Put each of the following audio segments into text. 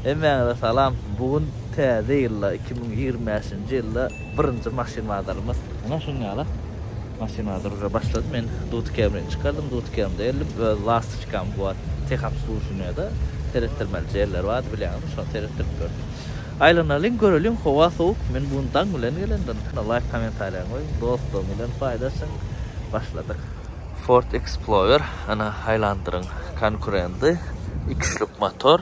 Hemmäňize salam. Bu gün täze ýylda iki müň ýigrimi bäşinji ýylda birinji maşyn bazarymyz. Mundan şunuň ýaly maşyn bazary ujra başlady. Men Duty Camry-ni çykardym. Duty Camry-de geldim. Öz lastoçkam bar. Tehobslužweniýede seretdirmelije ýerleri bardy bilýäňizmi, şony seretdirip gördüm. Aýlanalyň, göreliň, howa sowuk. Men bu gün daň bilen gelendim. Ine laýk kommentariýaňy goý, dostlaryň bilen paýlaşyň. Başladyk. Ford Explorer, ene aýlandyryň konkurendy. Iki üçlük motor.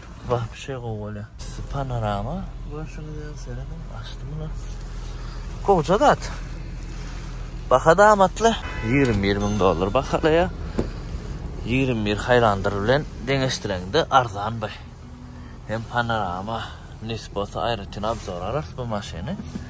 Wahşy gowy bolýar. Panorama görşüňiz ýaly serediň açdy muny. Gowja zat. Baha-da amatly. Ýigrimi bir müň dollar bahalaýar. Ýigrimi bir Highlander bilen deňeşdireňde arzan bu. Hem panorama, nis bolsa aýratyn obzor alarys bu maşyny.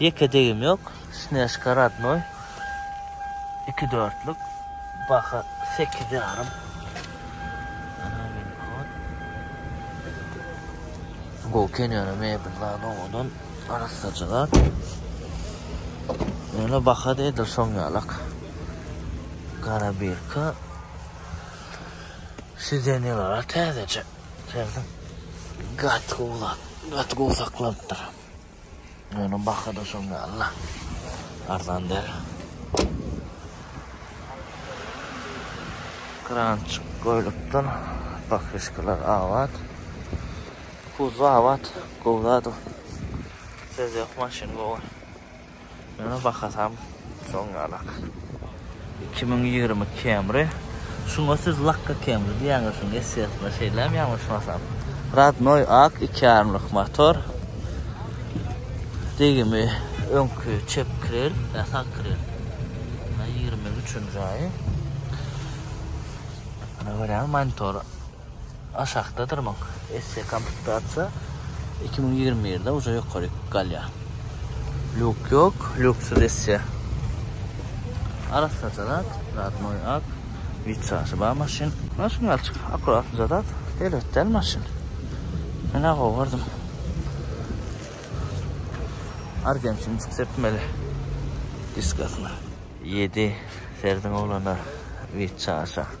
Ýeke degim ýok. Snejka radnoý. Iki dörtlük. Baha sekiz ýarym. Gowy kenýana mebel zat owadan. Arassaja zat. Ýöne baha-da edil şoň ýalak. Gara birka. Sidenýalar-a täzeje. Gaty gowy zat. Gaty gowy saklanypdyr. Ýöne baha-da şoň ýaly-la. Arzan däl. Krançyk goýlupdyr. Pakişkalar abat. Kuzba abat. Gowy zat o. Söz ýok, maşyn gowy. Ýöne bahasam şoň galak. Iki müň ýigrimi Camry. Şuňa siz lakka Camry diýýäňiz şuň essesyna şeýlem ýalňyşmasam. Radnoý ak iki ýarymlyk motor. Degimi öňki çep krel, ýa sag krel. Ýa ýigrimi üçünji aýy. Ana görýäňiz monitor. Aşakdadyr muň esse komplektasiýa iki müň ýigrimi birde uje ýokary galýa. Luk ýok, luksyz esse. Arassaja zat, radnoý ak, witrajy bar maşyn. Maşyn galçyk, akuratnyja zat, erbet däl maşyn. Men ha gowy gördüm. Argentinçik sepmeli diskasyna. Ýedi serdiň oglana, witrajy.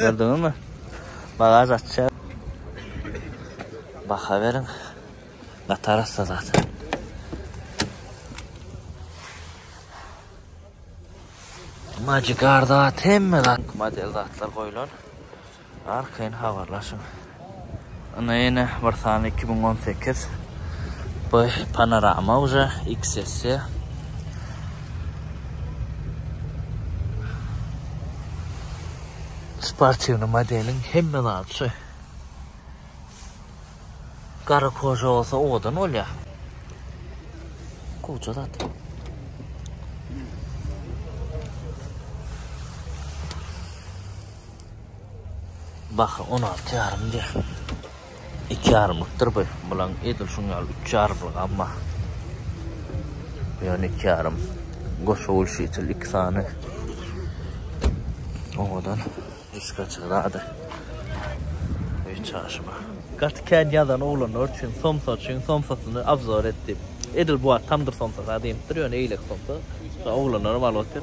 Gördüňizmi? Bagaz açýar. Baha beriň. Natar assa zat. Magic arda hemme zat model zatlar goýulan. Arkaýyn habarlaşyň. Ine ýene bir sany iki müň on sekiz. Bu panorama uje XS. Sportiwny modeliň hemme zady şu. Gara koža bolsa owadan bolýar. Koža zat. Baha on alty ýarym diýýär. Iki ýarymlykdyr bu. Bulaň edil şuň ýaly üç ýarymlygam bar. Bu ýöne iki ýarym. Goşa ulşitel iki sany. Oňadan diska çygrady. Üç çaşma. Gaty kän ýazan oglanlar üçin somsa üçin somsasyny obzor et diýip. Edil bu wagt tamdyr somsasy diýipdir, ýöne eýlek somsa. Oglanlaram alyp otyr.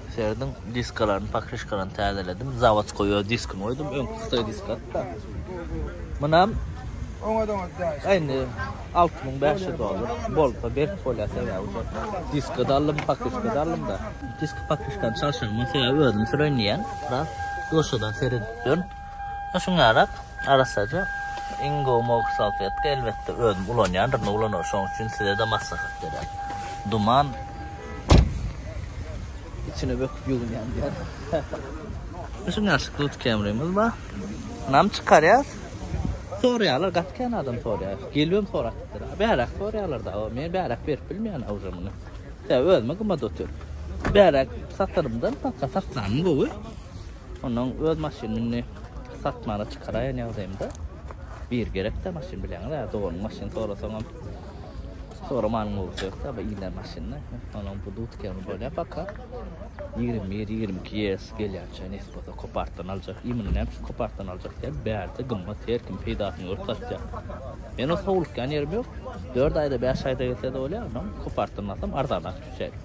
Serediň diskalaryny, pokrişkalaryny täzeledim. Zawodskoý öz diskini goýdum. Öňki hytaý disk atda. Munam Oňa da oňa da. Indi 6500 dollar. Bolsa berk bolýar sebäbi şu diski de aldym, pokrişka da aldym da. Disk pokrişkany çalşagyň sebäbi özüm süreýin diýen. Biraz duşadan seredip dön. Düşünýärem, arassaja. Iň gowy mobil salfetka, elbetde, özüm ulanýandyryn, uglanar. Şonuň üçin size-de maslahat berýän. Duman içine böküp ýuwunýan diýýär. Düşünýär, şikut kemrimiz bar. Nam çykarýas. Soraýarlar, gaty kän adam soraýar. Gelibem sorapdyr. Bäräk soraýarlar-da, o, men bäräk berip bilmeýän a uje muny. Sebäbi özüme gymmat otyr. Bäräk satarymdan, saklanym gowy. Ondan öz maşynyny satmana çykaraýan ýagdaýymda bir gerek-de maşyn bileňiz, ä doganyň maşyny sorasaňam soramanyň bolup ýokda, bu ýylan maşyny. Onuň bu dutkany bolýar paka. 21-22 ýes gelýänçä nesbede kopartdan aljak. Imini näme üçin kopartdan aljak diýen bärde gymmat her kim peýdasyny görüp satýar. Men o sowlukýan ýerim ýok. 4 aýda, 5 aýda gelse-de bolýar, ondan kopartdan alsam arzanak düşýär.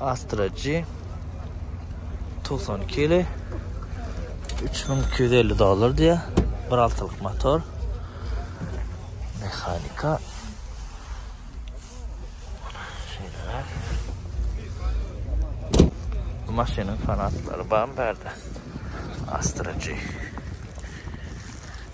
Astra G 92 ýyly 3250 dollar diýýär. Bir altylyk motor. Mehanika. Şeýle. Bu maşynyň fanatlary bam bärde. Astra G.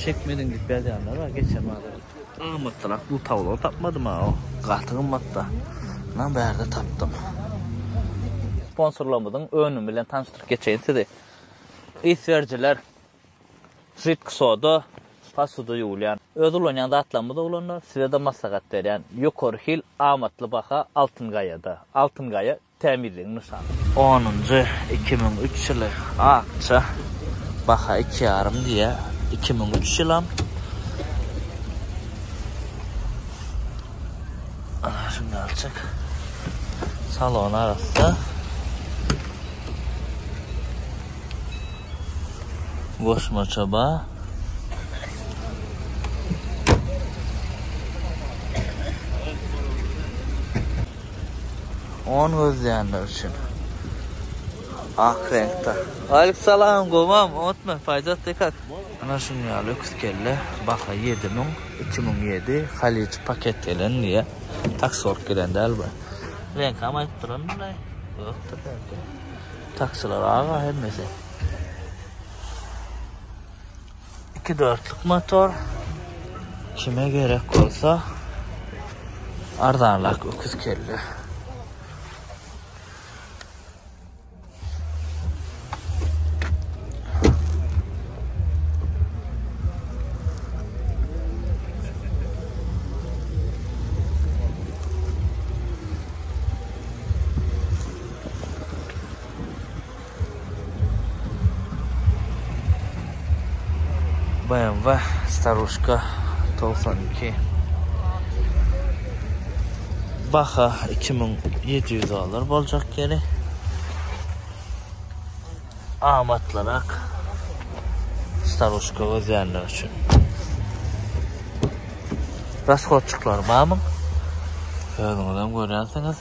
Çekmediň diýip ýazýanlar bar geçen bazar. Gymmatdyrak bu tawlary tapmadym ha. Gaty gymmatda. Munan bärde tapdym. Sponsorlarymyzyň önümi bilen tanyşdyryp geçeýin sizi. Ys berijiler Žitk soda, posuda ýuwulýan. Öz ulanýan zatlarymyz oglanlar, size-de maslahat berýän. Ýokary hil, amatly baha Altyn gaýada. Altyn gaýa Tämizligiň nyşany. Onunjy iki müň üç ýyly akja baha iki ýarym diýýä iki müň üç ýylam Ana şunjalçyk salon arassa goşmaça ba On gözleýänler üçin. Ak reňkde. Aleyküm salam, gowam, otma, paýzat dekat. Ana şuň ýaly öküz kelle, baha 7000, 2007, Halij paket gelen diýýär. Taksiwalk gelen däl bu. Reňkam aýdyp duran bulaý. Ýokdur reňki. Taksiler aga hemmesi. 2 dörtlük motor. Kime gerek bolsa arzanlak öküz kelle. BMW Starushka togsan iki. Baha iki müň ýedi ýüz dollar boljak ýeri. Amatlyrak Starushka gözýänler üçin. Rashodçyklar barmy? Özüňiz hem görýänsiňiz.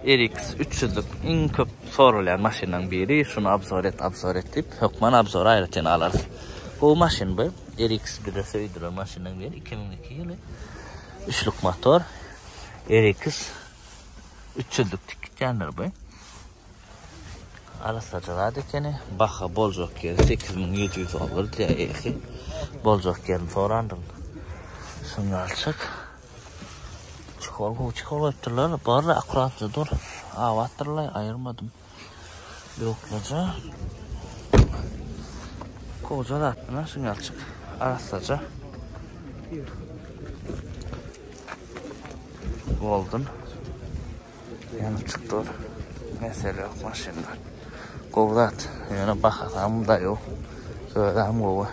RX üç ýüzlük iň köp soralýan maşynlaryň biri. Şuny obzor et, obzor et diýip, hökman obzory aýratyn alarys. Gowy maşyn bu. RX bize söýdüren maşynlaryň biri. Iki müň iki ýyly. Üçlük motor. RX üç ýüzlük tik gitýändir bu. Arassaja zat ekeni. Baha boljak ýeri sekiz müň ýedi ýüz dollar diýýär eýesi. Boljak ýerini sorandym. Şuňalçyk. Çukur gowy çukur goýupdyrlar. Barla akuratly dur. Abatdyrlar, aýyrmadym. Ýoklaja. Goja zat muna şuňalçyk arassaja. Golden. Ýene çykdyr. Mesele ýok maşynda. Gowy zat. Ýöne bahasam da ýok. Özem gowy.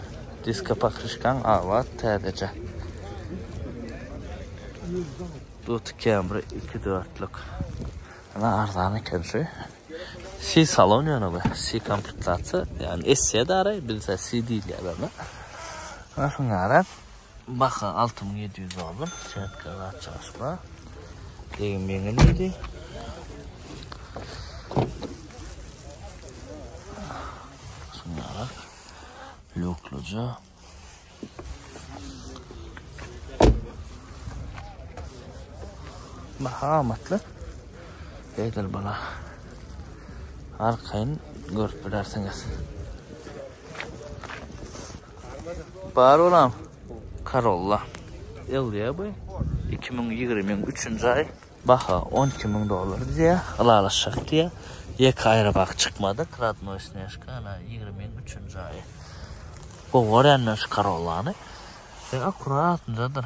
Diska pakryşkaň abat täzeje. Dut Camry 2 dörtlük. Ana arzan eken şu. Si salon ýöne bu. Si komplektasiýa. Ýani esse dara bilse si diýilýär ona. Aslynda Baha alty müň ýedi ýüz dollar. Setka zat çalyş bar. Degim ýeňil diýdi. Şunlarak. Lukluca. Baha amatly. Beýdil bala. Arkaýyn görüp bilersiňiz. Bar olam. Karolla. Elýa bu. 2023-nji aý. Baha 12 müň dollar diýýär. Ylalaşjak diýýär. Ýeke aýry bak çykmady. Kradnoý snežka ana 23-nji aý. Gowy görýän men şu karollany. Ýa akuratnjadyr.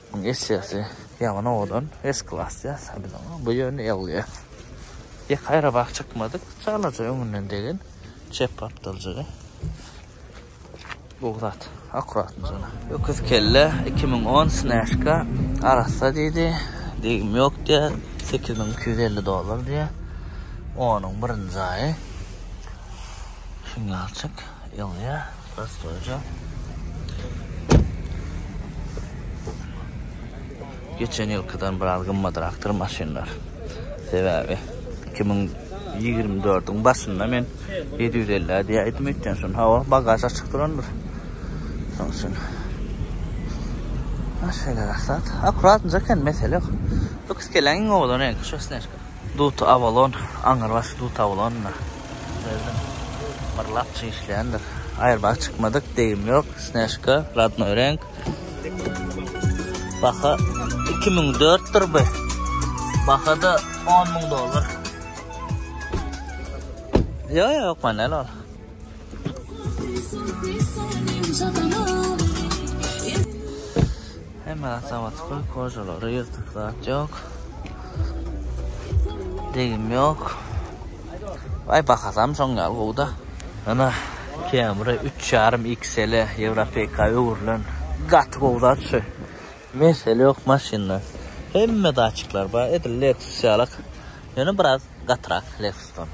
Muň esesi ýaman owadan es klas ýa sabilan bu ýöne ýalýa ýek aýrabak çykmadyk çalaja öňünden degen çep gapdaljaga bu zat akuratny jana. Öküz kelle iki müň on snäşka arassa diýdi degim ýok diýä sekiz müň iki ýüz elli dollar diýä onuň birinji aýy şuňňalçyk ýalýa. Gastoja. Geçen ýylkydan biraz gymmadrakdyr maşynlar. Sebäbi 2024-iň başynda men 750 diýip aýtdym öýtýän şun hawa bagaž açyk durandyr. Şoň üçin. Maşynlar aksat. Akuratnja eken mesele ýok. Lux gelen owadan reňki şu snejka. Duty Avalon, aňyrbaşly Duty Avalon-da. Özüm myrlapjy işleýändir. Aýrybaş çykmadyk, degim ýok, snejka, radnoý reňk. Baha iki müň dört dur bu. Baha-da on müň dollar. Ýok, ýok, men näl ol. Hemme zat zawodskoý, kožalary ýyrtyk zat ýok. Degim ýok. Aý bahasam şoň ýaly gowy-da. Ana Camry 3,5 XL Ýewropeka öwrülen gaty gowy zat şu. Mesele ýok maşynda. Hemme datçikler bar, edil Lexus ýalyk. Ýöne biraz gatyrak Lexusdan.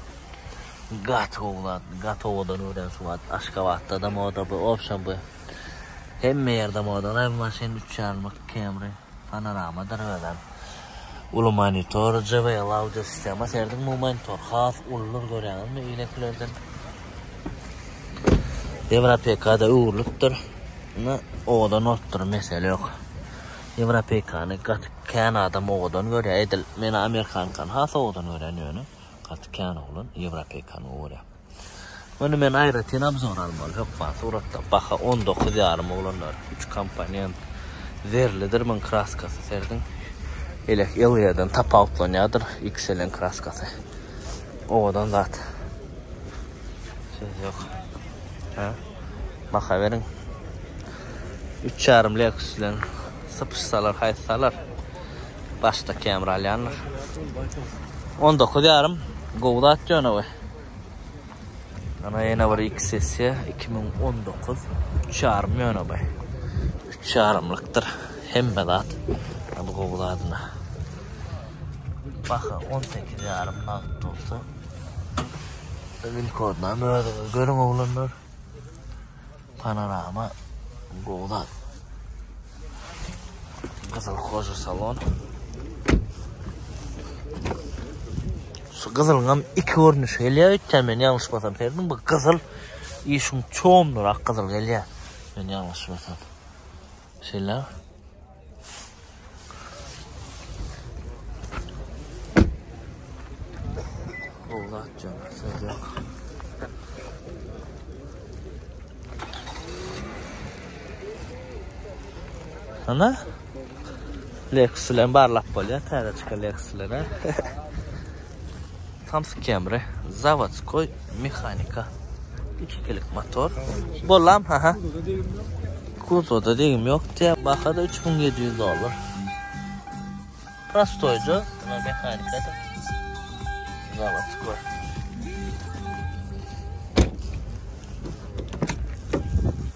Gaty gowy zat, gaty owadan öwren şu wagt Aşgabatda-da moda bu, obşem bu. Hemme ýerde modaly hem maşyn üç ýanlyk Camry, panorama derwezem, uly monitor, JBL audio sistema serediň bu monitor has uludyr görýäňizmi ilekilerden. Ýewropeýkada öwrülipdir. Indi owadan bolupdyr mesele ýok. Ýewropeýkany gaty kän adam owadan görýär edil men amerikankany has owadan görýän ýöne gaty kän oglan ýewropeýkany gowy görýär. Muny men aýratyn obzor almaly hökman suratda baha on dokuz ýarym oglanlar üç komponent zerlidir muň kraskasy serdiň elek ylýadan tapawutlanýadyr ikselen kraskasy owadan zat söz ýok ha baha beriň üç ýarym leks bilen sypyşsalar haýsy salar başda kemir alýanlar on dokuz ýarym gowy zat ýöne we Ana ýene bir iki sessiýa 2019 üç ýarym ýöne bay. Üç ýarymlykdyr hemme zat. Hadi gowy zadyna. Baha 18 ýarym nagt bolsa. Win kodnam özüňiz görüň oglanlar. Panorama gowy zat. Gyzyl hoja salon. Şu gyzylňam iki görnüşi gelýär, öýtýän men ýalňyşmasam, serdim bu gyzyl işiň çoğundurak gyzyl gelýär. Men ýalňyşmasam. Şeýle. Ola atjam, söz yok. Ana? Lexus'len barlap bolýar, täze çykan Lexus'lere. Samskemre, zawodskoý mehanika. Ikilik motor. Bolam, ha-ha. Kuzowda degim ýok diýýär. Baha-da üç müň ýedi ýüz dollar. Prostoýja, munuň mehanikasy. Zawodskoý.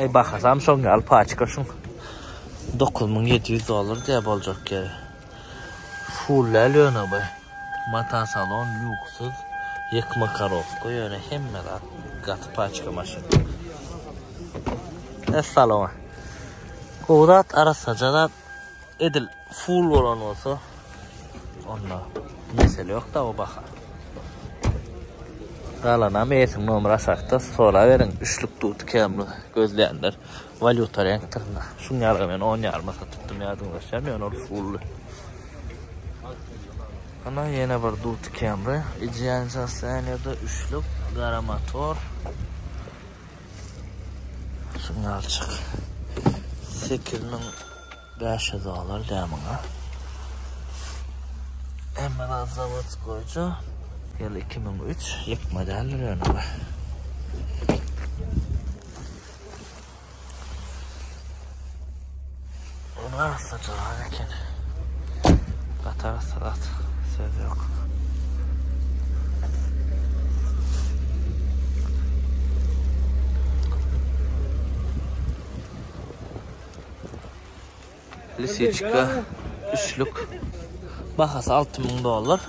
Eý bahasam şoň ýaly paçka şuň. Dokuz müň ýedi ýüz dollar diýýä boljak ýeri. Full däl ýöne bu. Mata salon lýuksyz. Ýykma korowka ýöne hemme zat gaty paçka maşyn. Essalamu. Gowy zat arassaja zat edil. Full bolan bolsa onda mesele ýok da o baha. Galanam eýesiniň nomeri aşakda soraberiň üçlük dut kemli gözleýänler walýuta reňkdirinde. Şuň ýaly men on ýaryma satypdym ýadyňdaşa men ol fully. Ana ýene bir dut kemri, ideal sostoýanýada üçlük gara motor. Şuň ýalçyk. 8000 Bäş ýüz dollar dä muňa. Hemme zat zawodskoýça. Ýyl iki müň üç. Ýykma däldir ýöne bu. Ony asla jogap eken. Gatar salat. Söz ýok. Lisiçka üçlük. Bahasy alty müň dollar.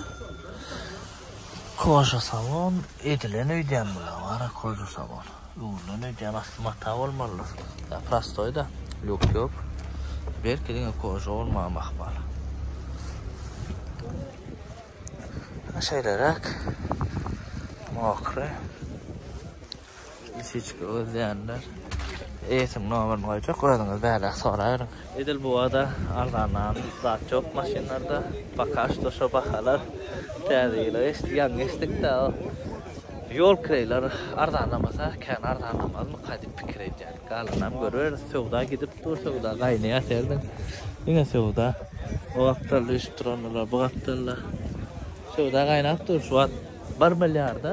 Koja salon edilen öýdýän bu ýa koja salon. Öwrülen öýdýän asly mata bolmalydyr. Ýa prostoý da, lýuk ýok. Belki diňe koja bolmagam ahmal. Şeýleräk. Mokry. Lisiçka gözleýänler eýesiniň nomerini goýjak, özüňiz bäläk soraberiň. Edil bu wagta arzandan zat ýok maşynlarda, poka şto şo bahalar. Täze ýyla geçdik, ýaňy geçdik däl. Ýol kireýleri arzanlamasa kän arzanlamazmyka diýip pikir edýän. Galanam görüberis, söwda gidip dur, söwda gaýnaýar serediň. Diňe söwda. O gapdalda ösüp durandylar, bu gapdalda. Söwda gaýnap dur, şu wagt bir milliarda.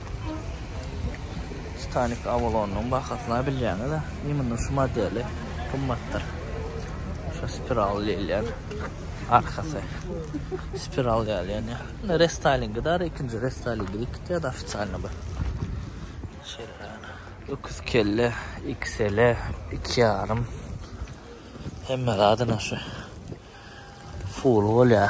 Titanik Avalonyň bahasyna bilýäňiz-ä, imенно şu modeli gymmatdyr. Şu spiral diýilýän arkasy. Spiral ýaly ýöne. Indi restylingi dar, ikinji restylingi dikdi, ofitsialny bu. Şeýle. Öküz kelle, XL, 2,5. Hemme zadyna şu. Full bolýar.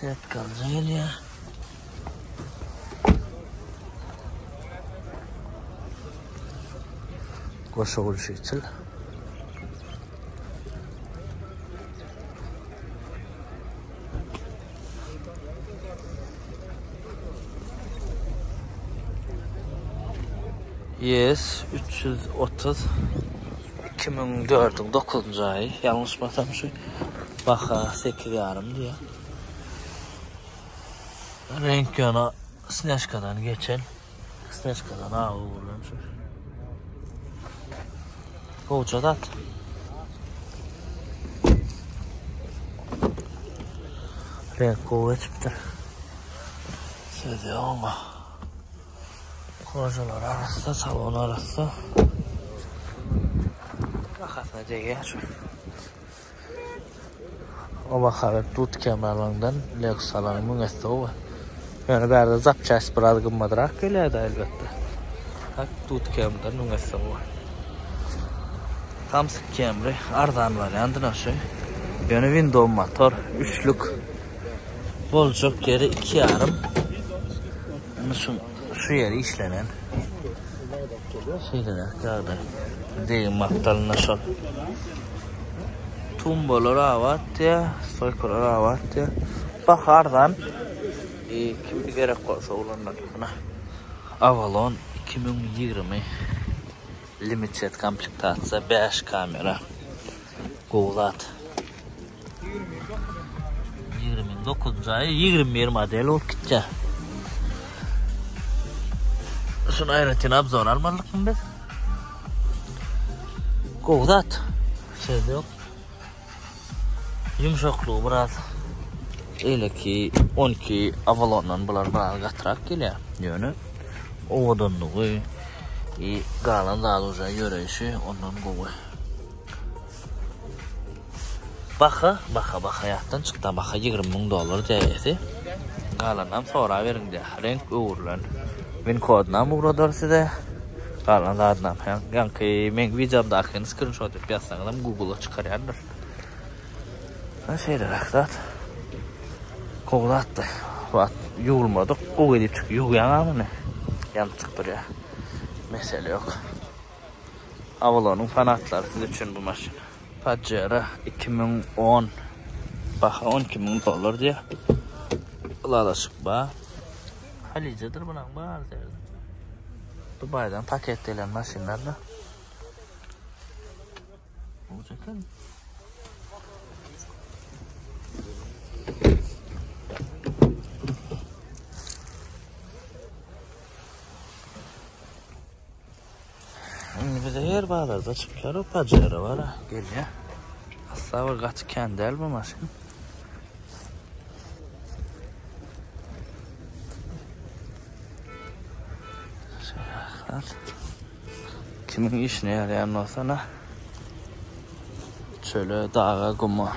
Setka alyja gelýär. Goşa gülşi içil. Yes, 330. Iki müň dördüň dokuzynjy aýy, ýalňyşmasam şu baha sekiz ýarym diýýär. Reňk ýöne snejkadan geçen. Snejkadan awy bolan şu. Gowja zat. Reňk gowy geçipdir. Söz ýok. Kožalar arassa, salon arassa. Bahasyna degýär. Oba haryt dut kemerlerinden Lexus-laryň müňesowy. Ýöne bärde zapçast biraz gymmadrak gelýär-de elbetde. Hak dut kemden müňesowy. Samsyk kemri arzan wariandy naşy. Ýöne window motor, üçlük. Boljak ýeri iki ýarym. Munuçin şu ýeri işlenen. Şeýle ýagdaý. Degim maktalynda şol. Tumbalar abat ýa, stoýkalar abat ýa. Baha arzan. E, kim gerek bolsa olanlar. Muna. Avalon 2020 limited komplektasiýa 5 kamera. Gowy zat. Ýigrimiň dokuzynjy aýy, ýigrimi bir model bolup gitýär. Şuny aýratyn obzor almalykmy biz? Gowy zat. Söz ýok. Ýumşaklygy biraz eleki 12 Avalondan bular biraz gatrak gelýär. Ýöne owadanlygy i galan zady ýöreýşi ondan gowy. Baha, baha, baha ýatdan çykda, baha ýigrimi müň dollar däýesi. Galanynam soraberiň diýýär. Reňk öwrülen winkodynam ugradar size. Galan zadynam. Ýaňky meň wideomdakyny skrinşot edip ýazsaňyzam Google-a çykarýandyr. Ine şeýleräk zat. Gowy zatdy. Wah, ýuwulmadyk. Gowy edip çykyp ýuwýaňa muny. Ýanyp çykdyrýar. Mesele ýok. Avalonyň fanatlary siz üçin bu maşyn. Pajero iki müň on. Baha on iki müň dollar diýýär. Ylalaşyk bar. Halyjadyr bulan bar derdi. Dubaýdan paket gelen maşynlar da. Oljakan. Indi bize her bazarda çykýar o pajero bara gelýär. Asla bir gaty kän däl bu maşyn. Kimin işine ýaraýan bolsa na. Çöle, daga, guma.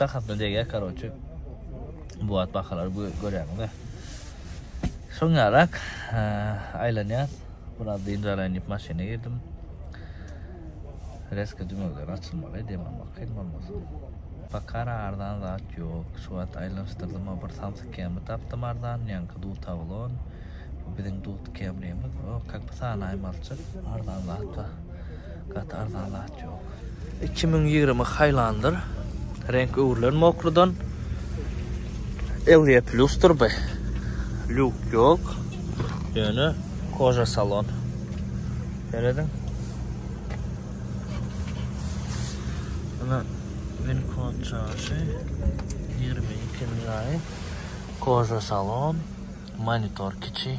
Bahasyna degýär karoçe. Bu wagt bahalary görýäňiz-ä. Soň ýarak aýlanýas. Biraz dynç alaýyn diýip maşyna girdim. Reska dümegileri açylmaly, dem almak kyn bolmasyn. Bakara arzan zat ýok. Şu wagt aýlanyşdyrdym-a bir samsyk kemi tapdym arzan, ýaňky dutaglon. Bu biziň dut kemrimiz. O, kak pysanaý malçyk. Arzan zat-a. Gaty arzan zat ýok. Iki müň ýigrimi haýlandyr. Reňk öwrülen mokludan. Elýe plusdyr bu. Lýuk ýok. Ýöne koja salon. Serediň. Ana Wincode çaşy. Ýigrimi ikinji aýy. Koja salon. Monitor kiçi.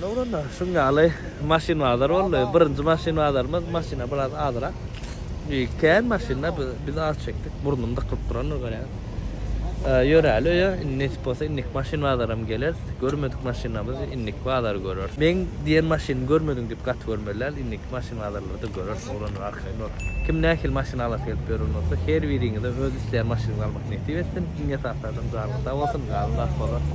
Nowruzda şuň ýaly maşyn bazary boldy. Birinji maşyn bazarymyz, maşyna biraz azrak. Beýik kän maşynda biz az çekdik. Burnum dykylyp durandyr görýäňiz. Ýöräli öýe, indi nesip bolsa indiki maşyn bazaram geleris. Görmedik maşynlarymyzy indiki bazary göreris. Meň diýen maşynymy görmediň diýip gaty görmeli däl, indiki maşyn bazarlarda göreris oglanlar. Nur. Kim nähili maşyn alasy gelip ýören bolsa, her biriňize öz isleýän maşynyňyzy almak nesip etsin. Iň esasy adam janyňyz sag bolsun, galan zat bolar.